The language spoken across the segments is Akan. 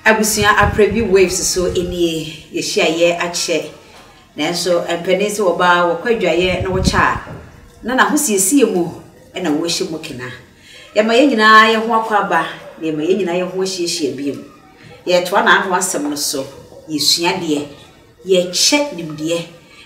Abusua aprɛ bi waves so nie yɛhyia yɛ akyɛ nanso mpɛnee sɛ wɔba wɔkɔ adwaeɛ na wɔkyɛ a na n'ahosiesie mu na wɔhyɛ mu kena yɛma yɛn nyinaa yɛ ho akɔ aba na yɛma yɛn nyinaa yɛ ho ahyiahyia bio yɛtoa n'ano asɛm no so yɛsua deɛ yɛkyɛ nimdeɛ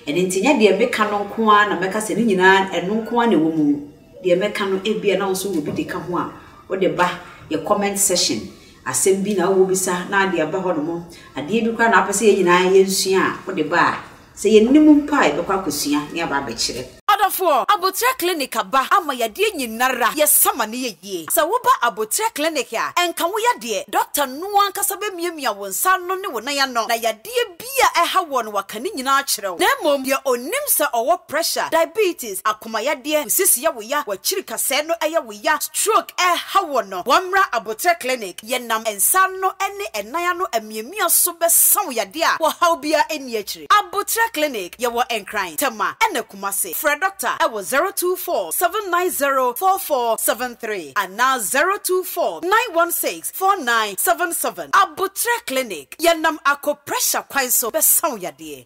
ɛno nti nyɛ deɛ meka no nko ara na mɛka sɛ ne nyinaa ɛno nko ara na ɛwɔ mu deɛ mɛka no ebia na wo nso wɔ bi de ka ho a wode ba yɛ comment session Asɛm bi na wobisa na ade aba hɔnom, adeɛ bi koraa na wopɛ sɛ yɛn nyinaa yɛnsua a, wode ba a, sɛ yɛnnim mpo a, yɛbɛkɔ akɔsua na yɛaba abɛkyerɛ. Adɔfoɔ, Aboterɛ Clinic aba ama yadeɛ nyinara, yɛsa ma no yɛ yie. Sɛ woba Aboterɛ Clinic a, ɛnka wo yadeɛ, dɔkta no ankasa bɛmiamia wo nsa ano ne wo nan ano na yadeɛ bi a ɛha woɔ no waka ne nyinaa akyerɛ wo, na mmom deɛ ɔnim sɛ ɔwɔ pressure, diabetes, akomayadeɛ, nsis yɛ wo ya, w'akyiri kasɛɛ no yɛ wo ya, stroke ɛreha woɔ no, wɔmmra aboterɛ clinic, yɛnam nsa ano ne ɛnan ano amiamia so bɛsa wo yadeɛ a ɔhaw biara nni akyire. Aboterɛ clinic, yɛwɔ Nkran, Tema ɛna Kumase. Frɛ Doctor ɛwɔ zero two four seven nine zero four four seven three anaa zero two four nine one six. four nine seven seven Aboterɛ Clinic, Yɛnam akɔ pressure kwan so bɛsa wo yadeɛ.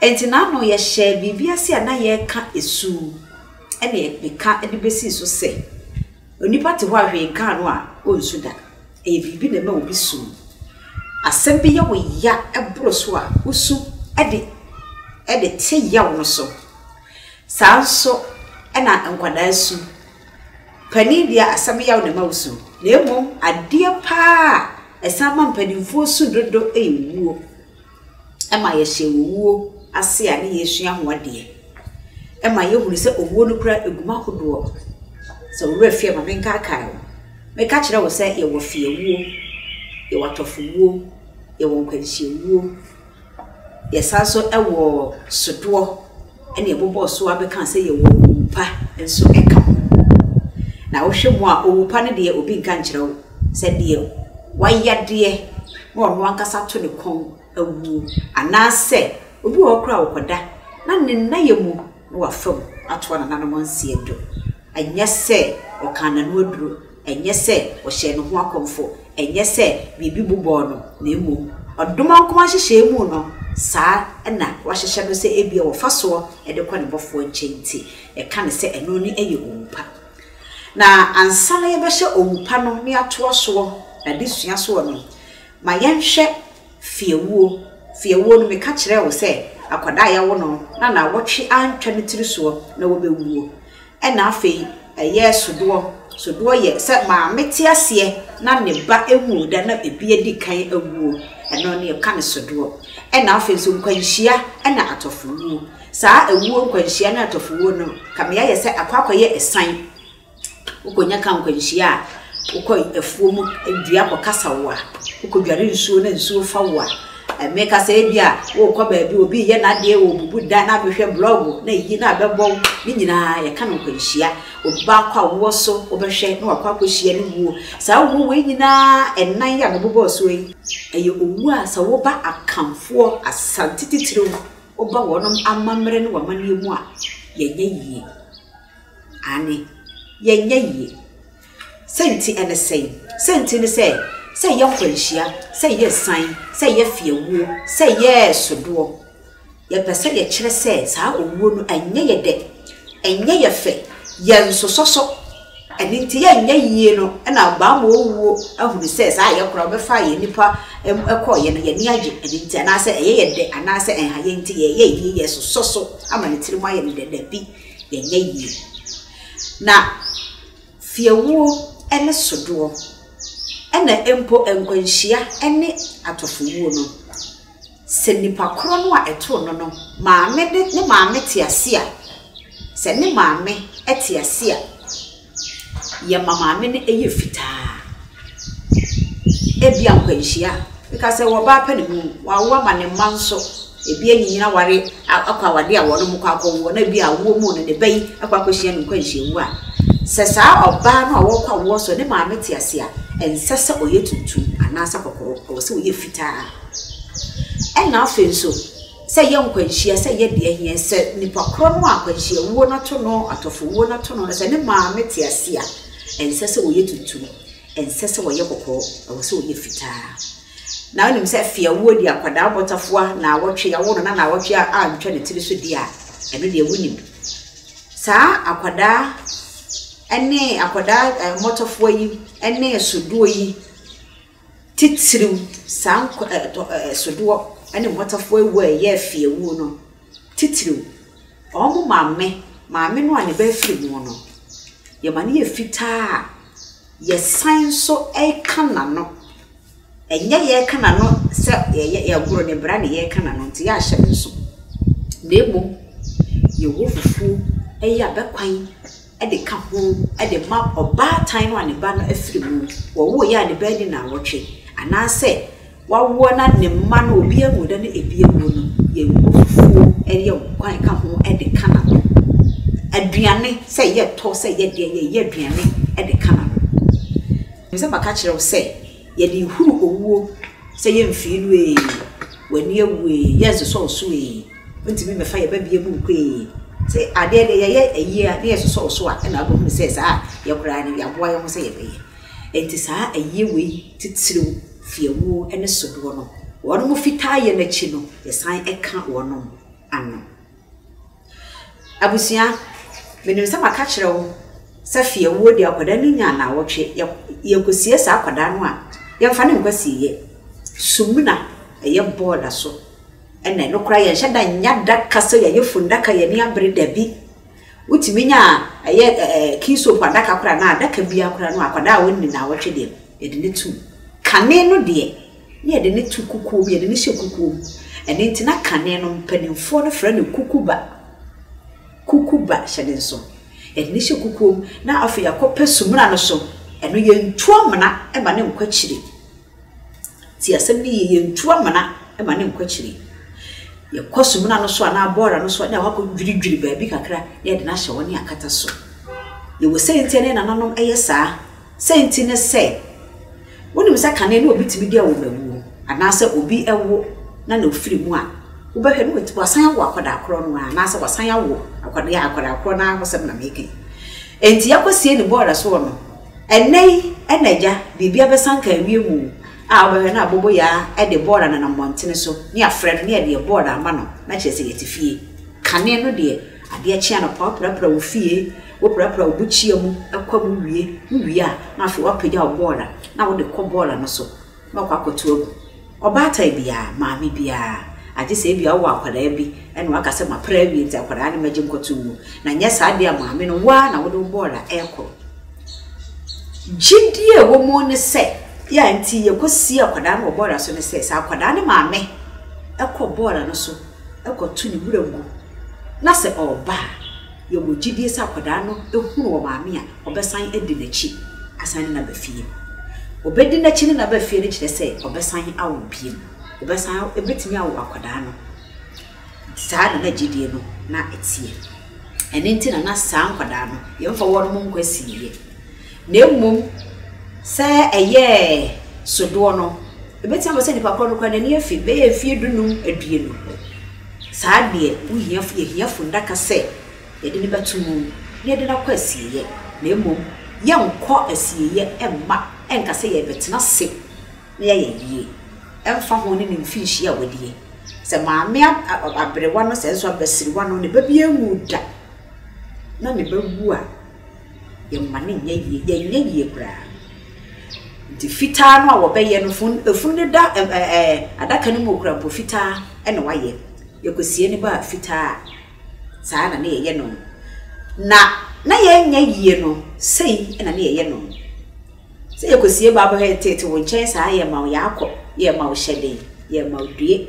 Enti n'ano yɛhyɛɛ biribi ase a na yɛreka su, ɛnna yɛka de besii so sɛ, Onipa te hɔ a hwee nkaa no a, onsu da. Ɛyɛ biribi na ɛma obi su. Asɛm bi yɛ wo ya boro so a, wusu de de te yaw no so. Saa ara nso na nkwadaa su. Panin deɛ, asɛm yaw na ɛma wosu, na mmom adeɛ paa a ɛsan ma mpanimfoɔ su dodo yɛ wuo. ɛma yɛhyɛ owuo ase a ne yɛresua ho adeɛ. Ɛma yɛhunu sɛ owuo no koraa egu mu ahodoɔ. Sɛ wo werɛ fi a ma me nkaakae wo. Mɛka akyerɛ wo sɛ yɛwɔ fiewuo, yɛwɔ atɔfowuo, yɛwɔ nkwanhyia wuo, yɛsan nso wɔ sodoɔ. ɛna ɛbobɔɔ so ara bɛkaa sɛ yɛwɔ owu pa nso ka ho. Na wohwɛ mu a, owu pa no deɛ obi nka nkyerɛ wo sɛ deɛ wayadeɛ na ɔno ankasa to ne kɔn awuo anaasɛ obi wɔ hɔ koraa ɔkɔda na ne nnayɛ mu na wafa mu atoa nananom nseɛ do. Ɛnyɛ sɛ ɔkaa n'ano aduro. Ɛnyɛ sɛ ɔhyɛɛ ne ho akɔmfo, ɛnyɛ sɛ biribi bobɔɔ no, na mmom ɔdom a ɔkoma nhyehyɛe mu no, saa na wɔahyehyɛ no sɛ ebia wɔfa soɔ de kɔ ne bɔfoɔ nkyɛn nti, yɛka no sɛ ɛno no yɛ owu pa. Na ansa na yɛbɛhyɛ owu pa no ne atoa soɔ n'adesua soɔ no, ma yɛnhwɛ. Fiewuo, fiewuo no meka kyerɛɛ wo sɛ akwadaa a yɛwo no na naawɔtwe antwa ne tiri soɔ na wɔbɛwuo. Ɛna afei ɛyɛɛ sodoɔ, sodoɔ yɛ sɛ maame te aseɛ na ne ba nwoo da na ɛbi adi kan awuo, ɛno ne yɛka no sodoɔ. Ɛna afei nso nkwanhyia ɛna atɔfowuo. Saa awuo, nkwanhyia ne atɔfowuo no kame ayɛ sɛ akɔ akɔyɛ ɛsan. Wokɔnya ka nkwanhyia a, wokɔ afuo mu dua kɔkasa wo a, wokɔdware nsuo na nsuo fa wo a, meka sɛ ebi a worekɔ baabi a obi reyɛ n'adeɛ, ɔrebubu dan na abɛhwɛ blɔɔgo na ayi na abɛbɔ wo, ne nyinaa yɛka no nkwanhyia. Obi baako a wowɔ so wobɛhwɛ na wakɔ akɔhyia ne wuo. Saa wuo wei nyinaa ɛnan yi a mebobɔ soɔ yi, ɛyɛ owuo a sɛ woba Akanfoɔ, Asante titiriw, woba wɔnom amammerɛ ne wɔn amanneɛ mu a, yɛnyɛ yie. Aane, yɛnyɛ yie. Sɛ nti ɛne sɛn? Sɛ nti ne sɛ, sɛ ɛyɛ nkwanhyia, sɛ ɛyɛ asiane, sɛ ɛyɛ fiawuo, sɛ ɛyɛ sodoɔ, yɛpɛ sɛ yɛkyerɛ sɛ saa owuo no ɛnyɛ yɛ dɛ, ɛnyɛ yɛ fɛ, yɛnsosɔ so. Ɛno nti yɛnyɛ yie no na bammɔ owuo ahunu sɛ saa yɛ koraa wɔbɛfaa yɛn nnipa kɔeɛ no yɛn ani agye ɛno nti anaasɛ ɛyɛ yɛ dɛ anaasɛ ɛnha yɛn nti yɛyɛ yie yɛsosɔ so ama ne tiri mu ayɛ no dɛ dabi. yɛnyɛ yie. Na fiewuo ne sodoɔ, ɛna mpo nkwanhyia ne atɔfowuo no, sɛ nipa korɔ no a ɛtoo no no maame de ne maame te ase a, sɛ ne maame te ase a, yɛ ma maame no yɛ fitaa. Ebia nkwanhyia, ɛka sɛ wɔ baa pɛ ne mu, wawo ama ne mma nso, ebi anyinyin aware akɔ awade a wɔn kɔ akɔ wo na ebi awoɔ mu no ne ba yi akɔ akɔ hyia no nkwanhyia wu a. Sɛ saa ɔbaa no a wɔkɔ awoɔ so ne maame te ase a, ɛnsɛ sɛ ɔyɛ tuntum anaasɛ kɔkɔɔ, ɛwɔ sɛ ɔyɛ fitaa. Ɛna afei nso. sɛ ɛyɛ nkwanhyia, sɛ ɛyɛ deɛ ɛheɛ, sɛ nipa korɔ no a akwanhyia wuo no ato no, atɔfo wuo no ato no, sɛ ne maame te ase a, ɛnsɛ sɛ ɔyɛ tuntum, ɛnsɛ sɛ ɔyɛ kɔkɔɔ, ɛwɔ sɛ ɔyɛ fitaa. Na wonim sɛ fiawuo deɛ akwadaa bɔtafoa naawɔtwe, yɛawo no na naawɔtwe a antwa ne tiri so deɛ a, ɛno deɛ wonim. Saa akwadaa ɛne akwadaa mmɔtafoa yi ɛne sodoɔ yi, Titiriw, saa nkwa ɛ, tɔ ɛ, ɛ, sodoɔ ne mmɔtafoɔ awu a ɛyɛ afi awuo no, titiriw, wɔn maame, maame no a ne ba afiri mu no, yɛma no yɛ fitaa a, yɛsan nso reka n'ano. Ɛnyɛ yɛreka n'ano sɛ yɛyɛ, yɛgoro ne bra na yɛreka n'ano nti yɛahyɛ no nso, na mmom yɛwɔ fufuo, ɛyɛ abɛ kwan. de ka ho de ma ɔbaatan no a ne ba no afiri mu, wɔwoeɛ a ne ba adi nnawɔtwe, anaasɛ wawoɔ na ne mma no obi anwu da na ebi awuo no, yɛbɔ fufuo yɛ nkwan ka ho de ka n'ano. Aduane sɛ yɛtɔ sɛ yɛdeɛ yɛyɛ aduane de ka n'ano. Ɛm sɛ maka kyerɛ wo sɛ yɛde huru owuo sɛ yɛmfii no ee, w'ani awu ee, yɛnsosɔ wo so ee. Wontumi mmɛfa yɛn babea mu nkoe. Sɛ adeɛ deɛ yɛyɛ ayie a na yɛsosɔ wo so a ɛna wobɛhunu sɛ saa a yɛ koraa no yɛaboa yɛn ho sɛ yɛbɛyɛ. Enti saa ayie wei titiriw fi awuo ne sodoɔ no. Wɔnom fitaa yɛ no akyi no yɛsan ka wɔnom ano. Abusua, menim sɛ maka kyerɛ wo sɛ fi awuo deɛ akwadaa no nya naawɔtwe yɛ yɛkɔsie saa akwadaa no a yɛmfa no nkɔ asieɛ. Sumina ɛyɛ bɔɔda so. Ɛna ɛno koraa yɛnhyɛ da nnya da ka sɛ yɛayɛ fundaka yɛn ani abere dabi. Wotumi nya ɛyɛ ɛɛ key soap adaka koraa anaa adaka biara koraa no akwadaa a ɔnni naawɔtwe deɛ no yɛde no tum. Kane no deɛ na yɛde no to kukuo mu yɛde no hyɛ kukuo mu ɛno nti na kane no mpanimfoɔ no frɛ no kukuba kukuba hyɛ ne nso yɛde no hyɛ kukuo mu na afei yɛakɔpɛ sumina no so ɛno yɛntu amena ɛma no nkɔ akyire. Tsie asɛm no yie, yenntu amena ma no nnkɔ ekyir. Yɛkɔ sumina no so anaa bɔɔra no so a, nna wɔakɔdwiridwir beebi kakra na yɛdze no ahyɛ hɔ na yɛakata so. Yɛwɔ siantsir a nna hɛn nananom yɛ saa. Siantsir nye sɛ, wonim sɛ kane no obi tumi dua wɔ mbamu mu, anaasɛ obi wo na nna ofir mu a, wobɛhwɛ no oetu ɔasan awo akwadaa kor no ara anaasɛ ɔasan awo akwadaa akwadaa kor no ara hɔ asɛm na mereka yi. Ntsi yɛakɔsie no bɔɔra so hɔ no, Ɛnnɛ yi na Agya, biribiara bɛsan ka awie mu a wobɛhwɛ na aboboyaa de bɔɔla nenam mmɔntene so ne afrɛ no ne adeɛ bɔɔla ama no na kyerɛ sɛ yɛte fie. Kane no deɛ, adeɛ kye anɔpa woprapra wo fie, woprapra wo bukyia mu, ɛkɔ mu wie, wowie a na afei woapagya wo bɔɔla na wode kɔ bɔɔla no so. na ɔkɔ akɔto agu. Ɔbaatan biara, maame biara, agye sɛ ebia wowɔ akwadaa bi na woaka sɛ, Mapra awie nti akwadaa no mɛgye nkɔto ngu. Na nyɛ saa deɛ a, maame no, wo ara na wode wo bɔɔl a ɛrekɔ. Gyidie a ɛwɔ mu ne sɛ, yɛ a enti yɛkɔsie akwadaa no wɔ bɔɔl so ne sɛ, sɛ akwadaa no maame kɔ bɔɔl no so kɔto ne wuram gu, na sɛ ɔreba a, yɛwɔ gyidie sɛ akwadaa no hunu wɔn maame a, ɔbɛsan adi n'akyi asan ne no aba fie. Ɔbɛdi n'akyi ne no aba fie no kyerɛ sɛ ɔbɛsan awo bio. Ɔbɛsan awo, ɛbɛtumi awo akwadaa no. Saa na na gyidie no na ɛteɛ. Ɛno nti na na saa nkwadaa no, yɛmfa wɔnom nkɔ asieeɛ. Na mmom sɛ ɛyɛɛ sodoɔ no, ɛbɛtumi aba sɛ nipa korɔ no koraa n'ani afi, bɛyɛ mfeɛ dunum, aduonu. Saa deɛ, wohia, yɛhia funnaka sɛ yɛde no bɛto mu na yɛde no akɔ asieeɛ, na mmom yɛnkɔ asieeɛ mma ɛnka sɛ yɛrebɛtena ase na yɛayɛ ayie, ɛmfa ho ne ne mfinhyia a wadie. Sɛ maame aberewa no, sɛ nso abasiriwa no, ne ba biara nwuu da, na ne ba wu a, Yɛmma no nyɛ yie, yɛnyɛ yie koraa. Nti fitaa no a wɔbɛyɛ no, fun efunu no da ɛm ɛ ɛ adaka no mu koraa mpo, fitaa na wɔayɛ. Yɛkɔsie no ba a, fitaa. Saa na na yɛyɛ no. Na na yɛnyɛ yie no, sei na na yɛyɛ no. Sɛ yɛkɔsie Bible Heritage wo nkyɛn saa a, yɛma wo yɛakɔ, yɛma wo hyɛden, yɛma wo due.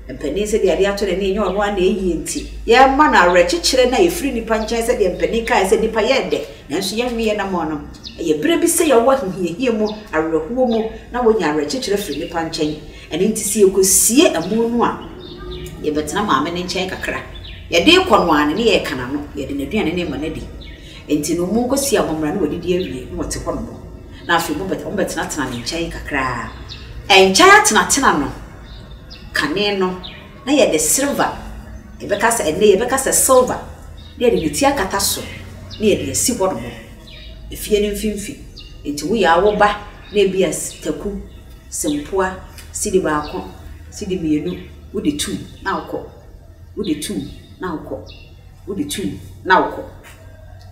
Mpanin sɛdeɛ adeɛ atɔ n'ani ɛnyɛ ɔno ara na ɛyie nti, yɛma no awerɛkyekyerɛ no a ɛfiri nnipa nkyɛn sɛdeɛ mpanin kaeɛ sɛ nnipa yɛɛ dɛ nanso yɛnweeɛ anammɔn. Ɛyɛ berɛ bi sɛ yɛwɔ ahohiahia mu, awerɛhoɔ mu na wonya awerɛkyekyerɛ firi nnipa nkyɛn. Ɛno nti sɛ yɛkɔsie amu no a, yɛbɛtena maame no nkyɛn kakra. Yɛde rekɔ no ara no, ne yɛreka n'ano, yɛde n'aduane no rema no adi. Enti no, wɔkɔsiaa wɔn mmara na wɔdidi awie, na wɔte hɔ nom. Na afei wɔbɛtenatenaa ne nkyɛn kakra ara. Ɛnkyɛe atenatena no, kane no, na yɛde silver, yɛbɛka sɛ, ɛnnɛ yɛbɛka sɛ silver, na yɛde ne ti akata so, na yɛde asi hɔ nom, efie no mfimfini. Enti woyɛ ara woba, na ebia taku, sempoa, sidi baako, sidi mmienu, wode tum, na wokɔ. Wode tum, na wokɔ. Wode tu na wokɔ.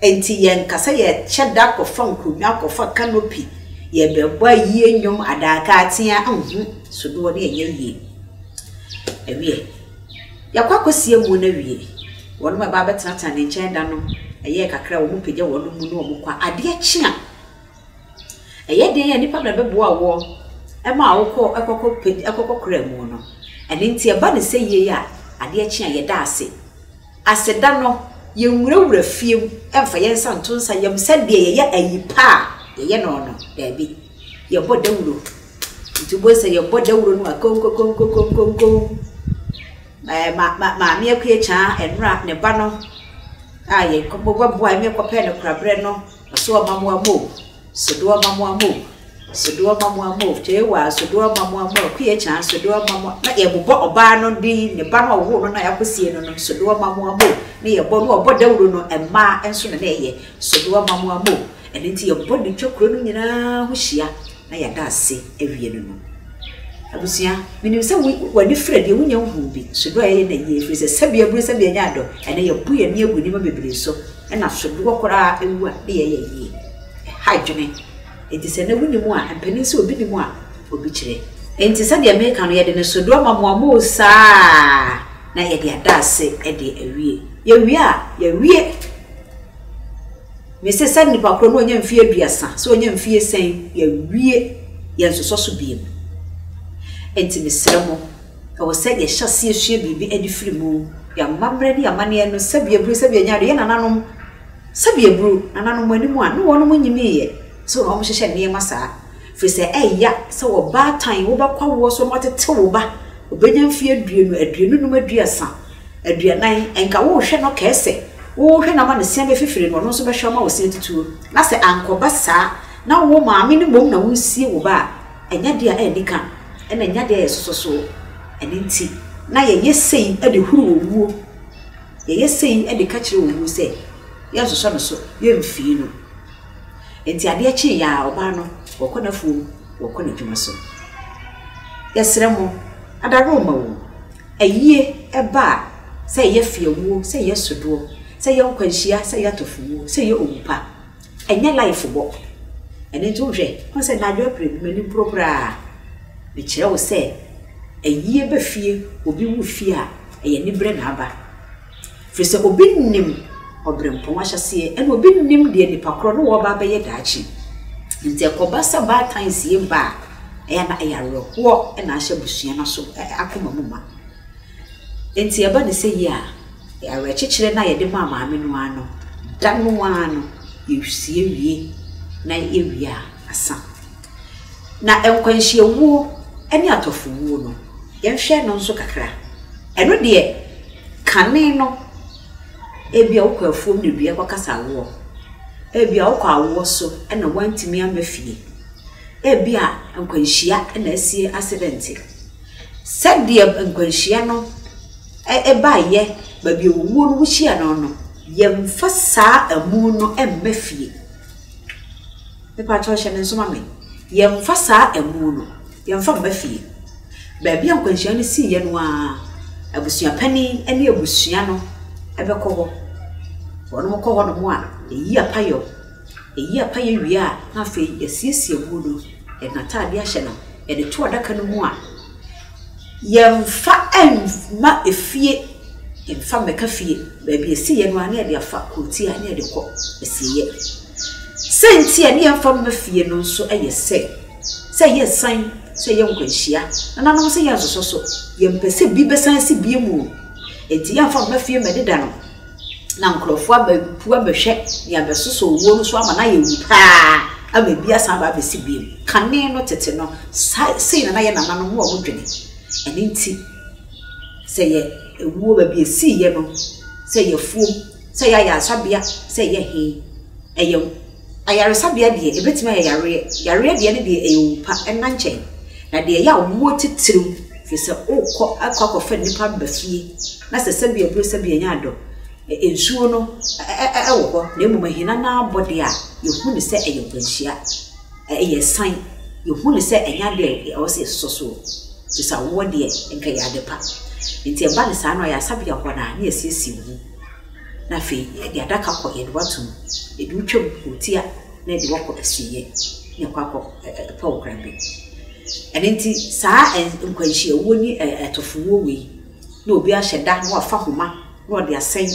Enti yɛnka sɛ yɛkyɛ da kɔfa nkonnwa, kɔfa canopy, yɛrebɛbɔ ayie nnwom, adaka atea, nhu sodoɔ no ɛnyɛ yie. Ɛwiɛ, yɛakɔ akɔsie mu no awie, wɔn bɛba abɛtenatena ne nkyɛn da no, ɛyɛɛ kakra wɔpagya wɔn mu na wɔkɔ a, adeɛ kye a, Ɛyɛ den a nipa bɛboa woɔ ɛma wokɔ ɛkɔkɔ pɛ ɛkɔkɔ kura mu no ɛno nti ɛba no sɛ yie a adeɛ kye a yɛda ase. Aseda no yɛnwura wura fie mu ɛmfa yɛn nsa nto nsa yɛm sɛdeɛ yɛyɛ ayi pa a yɛyɛ no no daabi yɛbɔ dawuro nti wobɛhu sɛ yɛbɔ dawuro no a konkonkonkonkonkomm ɛɛ ma ma maame akuakyaa ɛnora ne ba no a yɛkɔ bɛboa yɛn kɔ pɛ no korabrɛ no. Asoɔ ma moa mo o, Sodoɔ ma moa mo o, Sodoɔ ma moa mo o, Kyeewaa, Sodoɔ ma moa mo o, Kuyekyaan, Sodoɔ ma moa, na yɛbobɔ ɔbaa no de ne ba no a ɔwoo no no a yɛakɔsie no no, Sodoɔ ma moa mo o, na yɛbɔ no a ɔbɔ dawuro no mmaa nso na na ɛyɛ, Sodoɔ ma moa mo o, ɛno nti yɛbɔ no twa kuro no nyinaa ho hyia. na yɛada ase awie no no. Abusua, menim sɛ wo, w'ani fira deɛ wonya nhuu bi, sodoɔ a yɛyɛ na yie, ɛfiri sɛ sɛbea abue sɛbea anya adɔ, ɛnnɛ yɛabu yɛn ani agu nneɛma bebree so, ɛna sodoɔ koraa awu a na yɛyɛ yie. Ɛha adwene. Enti sɛ ɛnnɛ wonim a, mpanin sɛ obi nim a, obi kyerɛ. Enti sɛdeɛ meka no, yɛde no sodoɔ ma mo a mowɔ saa a, na yɛde ada ase de awie. Yɛwie a, yɛawie. Mese sɛ nnipa korɔ no ɔnya mfie aduasa, sɛ ɔnya mfie sɛn, yɛawie, yɛnsosɔ so biom. Enti mesrɛ mo, ɛwɔ sɛ yɛhyɛ aseɛ sua biribi de firi mu. Yɛn amammerɛ ne yɛn amanneɛ no, sɛbi aburo, sɛbi anya ado, yɛn nananom, sɛbi aburo, nananom mo anim a, ne wɔnom nyiniiɛ, so na wɔhyehyɛ nneɛma saa. Ɛfiri sɛ ɛyɛ ya sɛ ɔbaatan wobɛkɔ awoɔ so na watete wo ba, ɔbɛnya mfeɛ aduonu, aduonu nnum, aduasa, aduanan, nka worehwɛ no kɛɛ sɛ worehwɛ no ama no seame fifire na ɔno nso bɛhwɛ ama wo se atitire, na sɛ ankɔba saa na wo maame no mmom na woresie wo ba a, ɛnyɛ adeɛ a annika na ɛnyɛ adeɛ a yɛsosɔ soɔ. Ɛno nti na yɛyɛ sei de huru owuo, yɛyɛ sei de ka kyerɛ owuo sɛ yɛnsosɔ ne so, yɛmfii no. Enti adeɛ kyeeɛ ara, ɔbaa no, wɔkɔ n'afuom, wɔkɔ n'adwuma so. Yɛsrɛ mo, ada remma o, ayie ɛba a, sɛ ɛyɛ fiawuo, sɛ ɛyɛ sodoɔ, sɛ ɛyɛ nkwanhyia, sɛ ɛyɛ atɔfowuo, sɛ ɛyɛ owu pa, ɛnyɛ life bɔ. Ɛno nti wohwɛ, wohu sɛ Naajo April bi, m'ani boro koraa. Mekyerɛ wo sɛ, ayie ba fie, obi wu fie a, ɛyɛ aniberɛ na aba. Ɛfiri sɛ obi nnim ɔberempɔn ahyɛaseɛ, ɛna obi nnim deɛ nnipa korɔ no wɔreba abɛyɛ daakye. Nti ɛkɔba sɛ baatan sie ba a, ɛyɛ na ɛyɛ awerɛhoɔ na ahyɛ abusua no aso akoma mu ma. Nti ɛba ne sɛ yie a, awerɛkyekyerɛ no a yɛde maa maame no ara no, da no ara no yɛsie wie, na yɛwie a, asa. Na nkwanhyiawuo ne atɔfowuo no, yɛnhwɛ no nso kakra. Ɛno deɛ, kane no, ebia wokɔ afuom na dua kɔkasa woɔ. Ebia wokɔ awoɔ so na woantumi amma fie. Ebia nkwanhyia na asie asedɛnte. Sɛdeɛ nkwanhyia no baeɛ, baabi a owuo no wohyia no no, yɛmfa saa amu no mma fie. Mepakyɛw hyɛ ne nso ma me. Yɛmfa saa amu no yɛmfa mma fie. Baabi a nkwanhyia no siiɛ no ara, abusua panin ne abusua no bɛkɔ hɔ. Wɔnom kɔ hɔnom a, yɛyi apayɔ. Yɛyi apayɔ wie a, na afei yɛasiesie amu no, yɛde n'ataadeɛ ahyɛ no, yɛde to adaka no mu a, yɛmfa mma efie, yɛmfa mmɛka fie. Baabi a ɛsiiɛ no ara na yɛde afa kurotia na yɛde kɔ asieɛ. Sɛ nti a ne yɛn fa mma fie no nso yɛ sɛ, sɛ yɛ san, sɛ yɛ nkwanhyia, nananom sɛ yɛ nsosɔ so, yɛ mpɛ sɛ bi bɛ san si bie mu o. Nti yɛ nfa mma fie mɛ deda no na nkorɔfoɔ abɛ pu abɛ hwɛ ne abɛ sosɔ owuo no so ama na yɛ wu paa ama ebi asan aba abɛ si bie mu. Kane no tete no sa sei na na yɛ nananom no ɔmo dwene. Ɛno nti sɛ yɛ ewuo baabi esii yɛ no sɛ yɛ fuom Sɛ ɛyɛ ayaresabea sɛ ɛyɛ he, ɛyɛ wo. Ayaresabea deɛ, ɛbɛtumi ayɛ yareɛ. Yareɛ deɛ ne deɛ, ɛyɛ owu pa, ɛnna nkyɛn. Na deɛ ɛyɛ a wɔwɔ titiriw, firi sɛ worekɔ akɔ akɔfa nnipa aba fie, na sɛ sɛbea duru sɛbea nya dɔ. Ɛ, nsuo no ɛ, ɛ, ɛ, wɔ hɔ, na mmom ahina no ara bɔ deɛ a, yɛhu no sɛ ɛyɛ nkwanhyia. Ɛ, ɛyɛ asiane. Yɛhu no sɛ ɛnyɛ adeɛ a ɛwɔ sɛ yɛsosɔ soɔ, firi sɛ awoɔ deɛ, anka ɛyɛ ade pa. Enti ɛba no saa no, ayaresabea hɔ no ara, na yɛasiesie wo ho. na afei yɛde adaka kɔ yɛde wato mu. Yɛde wo twa mu kɔ tia na yɛde wakɔ asieɛ na ɛkɔ akɔ ɛpɛ wo kwan bi. Ɛno nti saa nkwanhyiawuo ne ɛtofomuo wei na obi ahyɛ da na wafa homa na ɔde asɛn.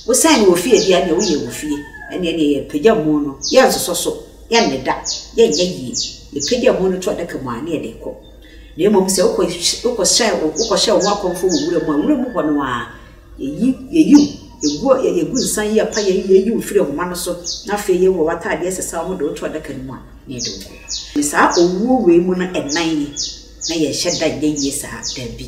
Wosɛn no wɔ fie deɛ ɛneɛ woyɛ wɔ fie. Ɛneɛ neɛ yɛpagya mu no yɛnsosɔ so, yɛnne da, yɛnyɛ yie. Yɛpagya mu no to adaka mu a ne yɛde kɔ. Na mmom sɛ wokɔ hyɛ wokɔ hyɛ wo ho akɔmfo wɔ wura mu a, wura mu hɔ no ara Yɛyi yɛyi wo, yɛgu ɔ yɛ yɛgu nsa yi apa yɛyi yɛyi wo firi ahoma no so, na afei yɛyi wo w'atadeɛ a ɛsesa wɔde wo to adaka no mu a, na yɛde wo kɔ. Ne saa owuo wei mu no ɛnan yi, na yɛnhyɛ da nyɛ yie saa, daabi,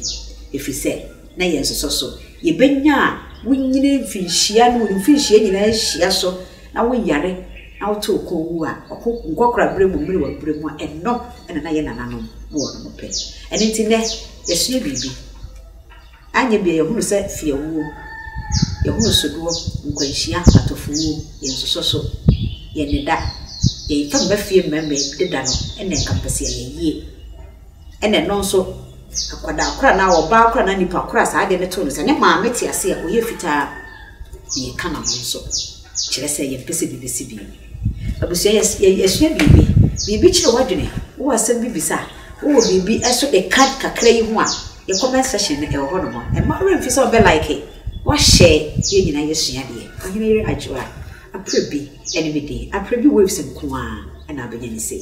ɛfiri sɛ na yɛnsosɔ so. Yɛbɛnya a wonyini mfirinhyia ne wo mfirinhyia nyinaa hyia so, na woyare, na woto wo kɔn wu a, ɔko nkɔkoraberɛ mu, mmerewaberɛ mu a, ɛno na na yɛn nananom ne wɔnom pɛ. Ɛno nti nnɛ, yɛsua biribi. Anyɛ bia yɛhunu sɛ fiawuo, yɛhunu sodoɔ, nkwanhyia, atofowuo, yɛn nsosɔso, yɛn nneda, yɛn fam mma fie mmarima deda no na nka mpɛsɛ yɛyɛ yie. Ɛna ɛno nso, akwadaa kora na ɔbaa kora na nipa kora saa adeɛ no too no sɛ ne maame te ase a ɔyɛ fitaa na yɛka na ho nso. Kyerɛ sɛ yɛn pɛsɛ bi bɛsi bi. Abusua yɛsua biribi, biribi kyerɛ w'adwene, wowɔ asɛm bi bisa, wowɔ biribi ɛso ɛka kakra yi ho a, Yɛ comment section no ɛwɔ hɔ nom mma ɔwerɛ mfi sɛ ɔbɛ like wa share yɛn nyinaa yɛ sua adeɛ ɔhene yere adwoa aprɛ bi ɛne me den aprɛ bi waves nkoaa ɛna abɛnya ne sei.